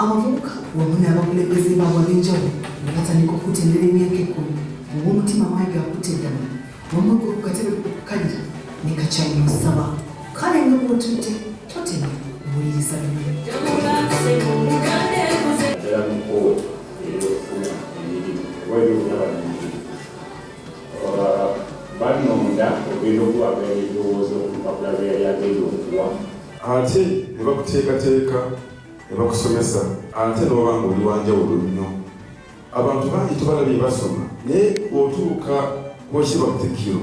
abavubuka wamu n'abakulembeze baabwe ab'enjawulo nga batandika okukutendera emyaka ekkumi ow'omutima mayiga akutte eddala wamuga ku katebe okukalira ne kakyali musaba kale nga bw'otudde totema buwuliriza bino banonda ogenda okubaga ebirowoozo ku mpapula bye yali agenda okuwa ate ne bakuteekateeka ne bakusomesa ate n'oba nga oli wanjawulo nnyo abantu bangi tubalabye basoma naye otuuka kubakiba butikiro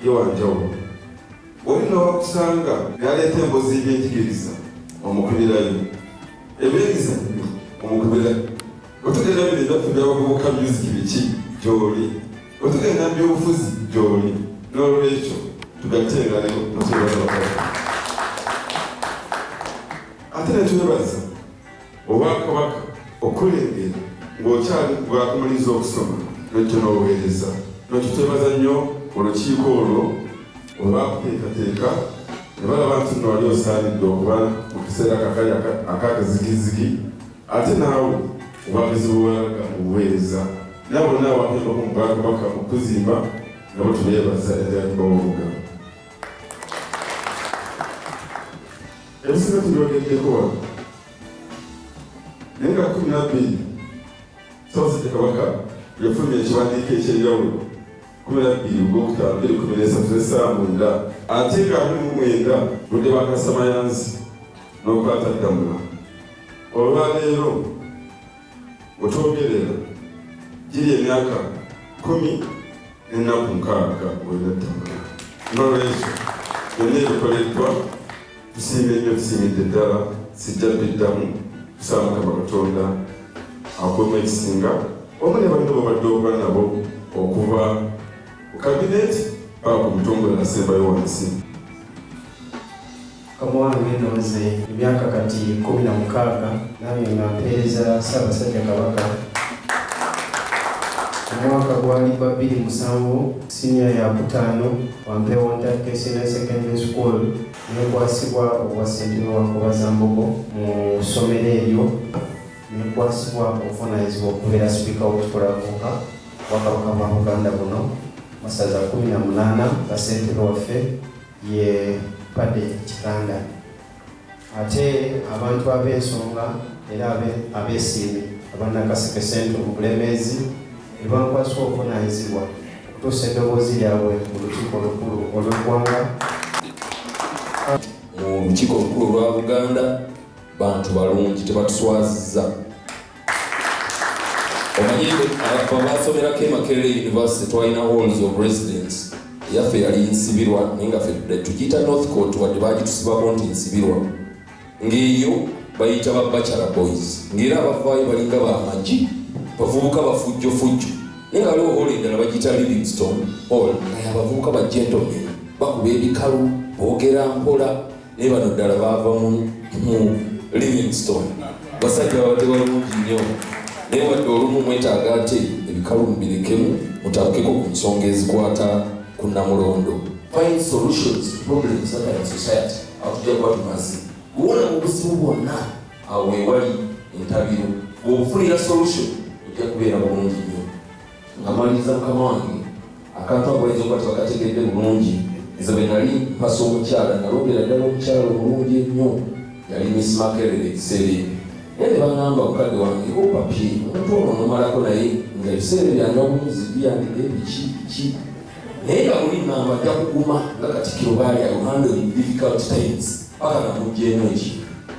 ye wanjawulo oli nowakusanga naleeta embozi ebyenjigiriza omukubirayo ebyemizanyo omukubirayo otugeera bino ebyaffe byabavubuka myuziki biki gyoli Bwe tugenda mu by'obufuzi gy'oli n'olwekyo tugatte engalo mu kyebaza bakola ate ne twebaza obwakabaka okulengera ng'okyali bwakumaliza okusoma nojjo n'obuweereza nokyo twebaza nnyo olukiiko olwo olwakuteekateeka ne balaba nti nno wali osaanidde okuba mu kiseera kakali akakazigizigi Ate naawe obagezi bwewalaga mu buweereza nabo naabakemba ku mubala kabaka mu kuzimba nabo tubeebaza ebyaliba woluga ebisinga tubyogeddeko wano naye nga kumi nabbiri sabasajja kabaka yafunye ekiwandiiko ekyenjawulo kumi nabbiri ogwokutaano biri kumi nesatu zesaawa mwenda ate nga abiri mu mwenda budde bakasamayanzi n'okwata ddamula olwaleero wetwogerera giri emyaka kumi nenaku nkaaga wenattaka nolwekyo byonna ebikoleddwa tusiima ennyo tusiimidde ddala sijja biddamu tusaba mukama katonda akuuma ekisinga omu ne bantu babadde okuba nabo okuva ku kabineti paka ku mutongole nasembayo wansi Kamwana Ngendo nze emyaka kati kumi na mukaaga nange nga mpeereza Ssaabasajja Kabaka. Omwaka gwali gwa bbiri musanvu siniya yakutaano wampeewo ntakke senior secondary school nekwasibwa obwa ssentebe wa Nkobazambogo mu ssomero eryo nekwasibwa obuvunaanyizibwa okubeera sipiika w'okukulakuuka bwakabaka bwa Buganda buno masaza kumi na munaana nga ssentebe waffe ye Paddy Kiganda ate abantu ab'ensonga era abeesiimi aba Nakaseke Central mu Bulemeezi ne bankwasibwa obuvunaanyizibwa okutuusa eddoboozi lyabwe mu lukiiko olukulu olw'eggwanga mu lukiiko olukulu olwa Buganda bantu balungi tebatuswaziza omanyi abasomerako e makerere university twalina halls of residence yaffe yali nsibirwa naye nga tugiyita north court wadde bagitusibako nti nsibirwa ng'eyo bayita ba bachelor boys ng'era abavaayo balinga bamagi bavubuka bafujjofujjo naye nga waliwo hall endala bagiyita livingstone hall naye abavubuka ba gentlemen bakuba ebikalu boogera mpola naye bano ddala baava mu livingston basajja babadde balungi nnyo naye wadde olumu mwetaaga ate ebikalu mubirekemu mutabukeko ku nsonga ezikwata ku namulondo find solutions to problems that are in society atujja kuba tumaze kuwona mu buzibu bwonna awo wewali entabiro bwobufunira solution ojja kubeera bulungi nnyo nga maliriza mukama wange akantu ako bayinza okuba tebakategedde bulungi nze bwe nali mpasa omukyala nalobera ddala omukyala omulungi ennyo yali miss makerere ekiseera ebyo naye ne bagamba mukadde wange opapi omuntu ono nomalako naye nga ebiseera byange omumizi byange biki ki naye nga muli ngamba ajja kuguma nga katikiro baali ayohando in difficult times paka namugyemu eki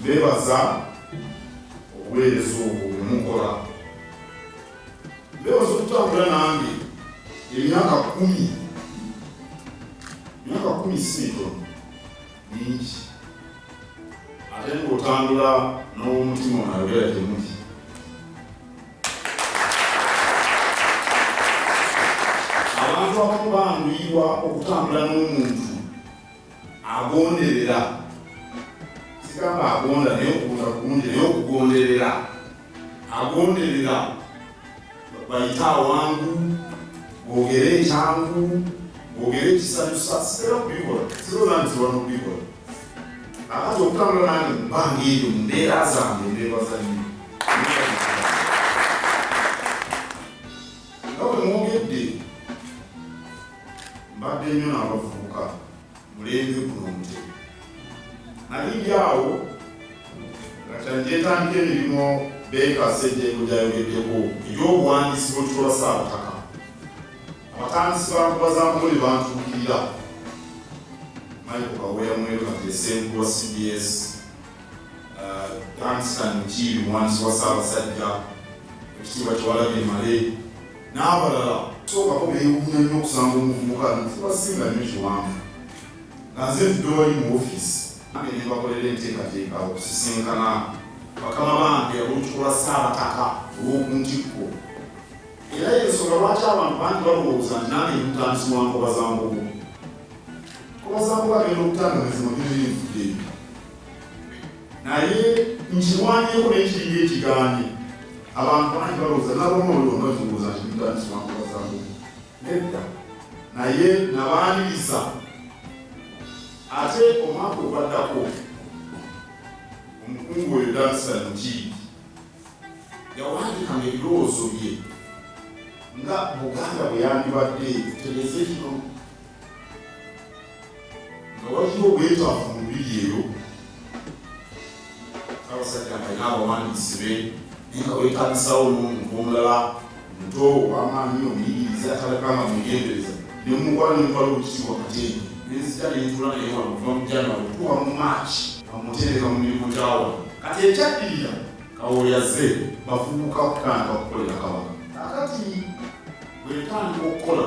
Mbeebaza obuweereza obwo bwe mukola. Mbeebaza okutambula nange emyaka kkumi. Emyaka kkumi si mitono, mingi. Ate ng'otambula n'owomutima onayogera gye muli. Abantu abamu banguyirwa okutambula n'omuntu agonderera sigamba agonda naye okugonda kulungi naye okugonderera agonderera bayita awangu bogere ekyangu bogere ekisanyusa sitera kubikola sirona nti wano kubikola akati okutambula nange mubanga eyo mumbeera zange nebazanyi mbadde nnyo n'abavubuka mulembe guno omutebi nali ndi awo nga kyanjetandika emirimu beeka sejjengo gyayogeddeko eby'obuwandiisi bw'ekitolwa ssaabutaka abatandisi bakuba za mukole bantuukirira maiko kaweera mweru katesengu wa cbs uh, danstan mukiibi muwandiisi wa ssaabasajja ekitiibwa kyewalabye male n'abalala sookako beewuunya nnyo okusanga omuvubuka ntubasinga nnyo kiwanvu nga nze ntudde wali mu ofiisi nange ne mbakolera enteekateeka okusisinkana bakama bange olw'okutukola ssaabataka olw'oku ntikko era y'ensonga lwaki abantu bangi balowooza nti nange mutandisi wa nkoba za mbugu nkoba za mbugu agenda okutanga mizimu gyenyini nfudde naye nkirwanyeko nekiringa ekigaanye abantu bangi balowooza nabomolonozunguza ntibitanisiwankubazangu nedda naye nabaaniriza ate omwaka ogwaddako omukungu oyo danisa mukiidi yawandikanga ebirowoozo bye nga buganda bwe yandibadde tutegeeze kino waliwo obwetaavu mu lubiri eyo abasajja ngalina abawandiisi be naye nga wetagisawo n'omuntu omulala muto owamaanyi omuyigiriza atalaganga mugendereza nemukwala nemutwala okukitiibwa kateeni nenzija nentula naye wano kuva mu janwali okutuuka mu maaki amutendeka mu mirimu gyawa kati ekyaddirira kawoyaze bavubuka okutandika okukolera kabaka akati bwetandika okukola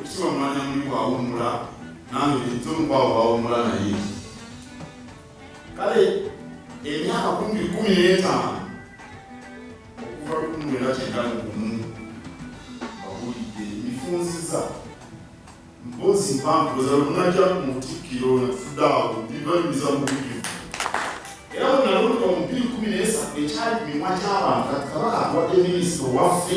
Ekisiwa mwanya muli bwawummula nange nitumukwabo bawummula naye kale emyaka kumbi kumi n'etaano okuva lukumwera kyenda mu gumu bawulidde mifunziza mpozi mpampuza lunajja mu butikkiro natudde awo bibalumiza mu bujuvu era bwenalonda omubiri kumi n'esatu ekyali mimwa gy'abantu kati kabaka akuwadde minisita owaffe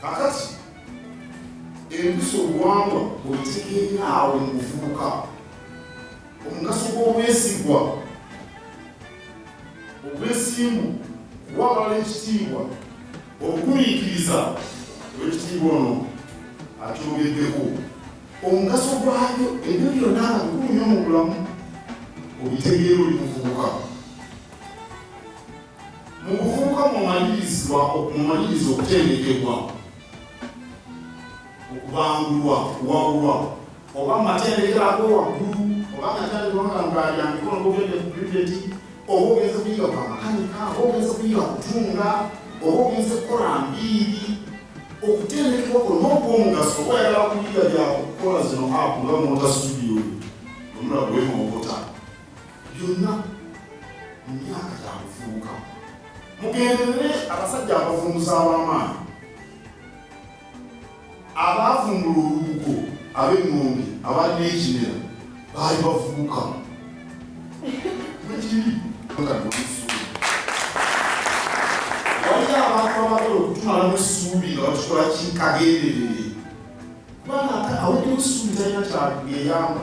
kakati empisa obuwangwa bwebitegeera awo mu buvubuka omugaso gw'obwesigwa obwesimbu kuwa abalala ekitiibwa okugumiikiriza olwekitiibwa ono akyogeddeko omugaso gwayo ebyo byonna bikulu nyo mu bulamu obitegeera oli muvubuka Mu kufuuka mumalirizibwa mumaliriza okutendekebwa okubangulwa okuwabulwa oba mu matendekero ag'owaggulu oba nga kyaliwanga ngaalya mikono gogende ku bibeti oba ogenze kuyiga kwa makanika oba ogenze kuyiga kutunga oba ogenze kukola mbiiri okutendekebwa kuno n'okuomugaso oba yagala kuyiga byakukola zino apu nga mota studio omulabwemokota byonna mu myaka gya kufuuka mugenderere abasajja abavunguza ab'amaanyi abaavumbula olubugo ab'eŋŋombe abalina ekimera baali bavubuka wekiri tumalamu essuubi nga bakikola kikagenderere kubanga ate awulira essuubi talina kyageyamba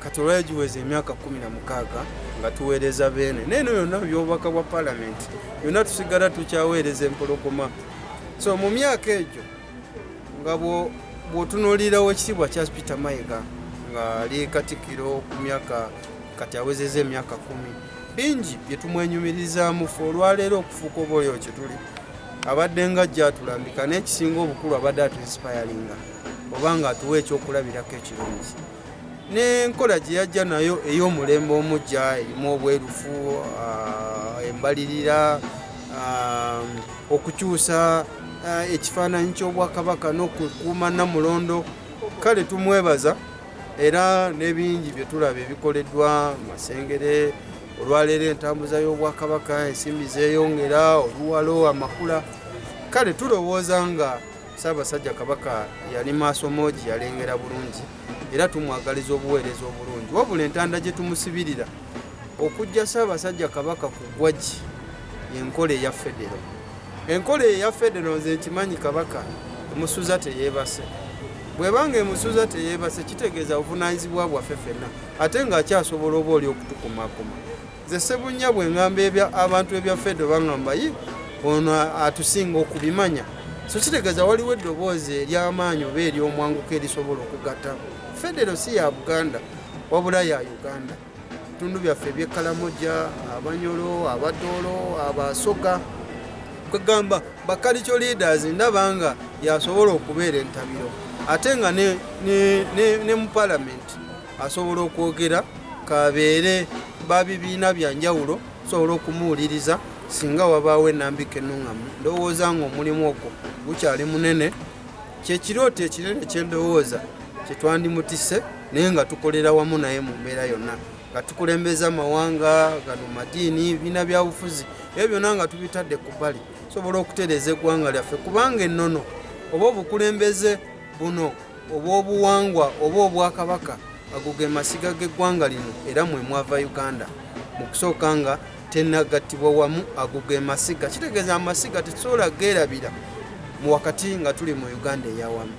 Katola yagiweza emyaka kumi na mukaaga nga tuweereza Beene. Naye no yonna byobubaka bwa palamenti yonna tusigala tukyaweereza empologoma. So mu myaka egyo nga bw'otunuulirawo ekitiibwa kya Peter Mayiga ng'ali Katikkiro ku myaka kati awezeza emyaka kumi bingi bye tumwenyumirizaamu fe olwaleero okufuuka oba oyo kye tuli abadde nga ajja atulambika n'ekisinga obukulu abadde atuinsipayalinga oba nga atuwa ekyokulabirako ekirungi n'enkola gye yajja nayo ey'omulembe omujja erimu obwerufu ah, embalirira ah, okukyusa ah, ekifaananyi ky'obwakabaka n'okukuuma namulondo kale tumwebaza era n'ebingi bye tulaba ebikoleddwa masengere olwaleero entambuza y'obwakabaka ensimbi zeeyongera oluwalo amakula kale tulowooza nga Ssaabasajja Kabaka yali maaso moogi, yalengera bulungi era tumwagaliza obuweereza obulungi. Wabula entanda gye tumusibirira okujja Ssaabasajja Kabaka ku ggwagi y'enkola eya federo. Enkola eyo eya federo nze nkimanyi Kabaka emusuza teyeebase. Bw'eba ng'emusuza teyeebase kitegeeza buvunaanyizibwa bwaffe ffenna ate ng'akyasobola oba oli okutukumaakuma. Nze Sebunya bwe ngamba ebya abantu ebya Fedo bangamba yi ono atusinga okubimanya. So kitegeeza waliwo eddoboozi ery'amaanyi oba ery'omwanguka erisobola okugatta. Federo si ya Buganda wabula ya Uganda. Tundu byaffe eby'ekkalamoja, Abanyolo, Abadoolo, Abasoga kwegamba bakalico leaders ndaba nga yasobola okubeera entabiro ate nga ne, ne, ne, ne mu palamenti asobola okwogera kabeere ba bibiina bya njawulo tusobola okumuwuliriza singa wabaawo enambika enuŋŋamu ndowooza ng'omulimu ogwo gukyali munene kyekirooto ekinene kyendowooza kyetwandimutise naye nga tukolera wamu naye mu mbeera yonna nga tukulembeza amawanga gano madiini biina byabufuzi ebyo byonna nga tubitadde ku bbali tusobola okutereeza eggwanga lyaffe kubanga ennono oba obukulembeze Buno obw'obuwangwa oba obwakabaka ago ge masiga g'eggwanga lino era mwe mwava Uganda mu kusooka nga tenagattibwa wamu ago ge masiga kitegeeza amasiga tetusobola geerabira mu wakati nga tuli mu Uganda eyawamu.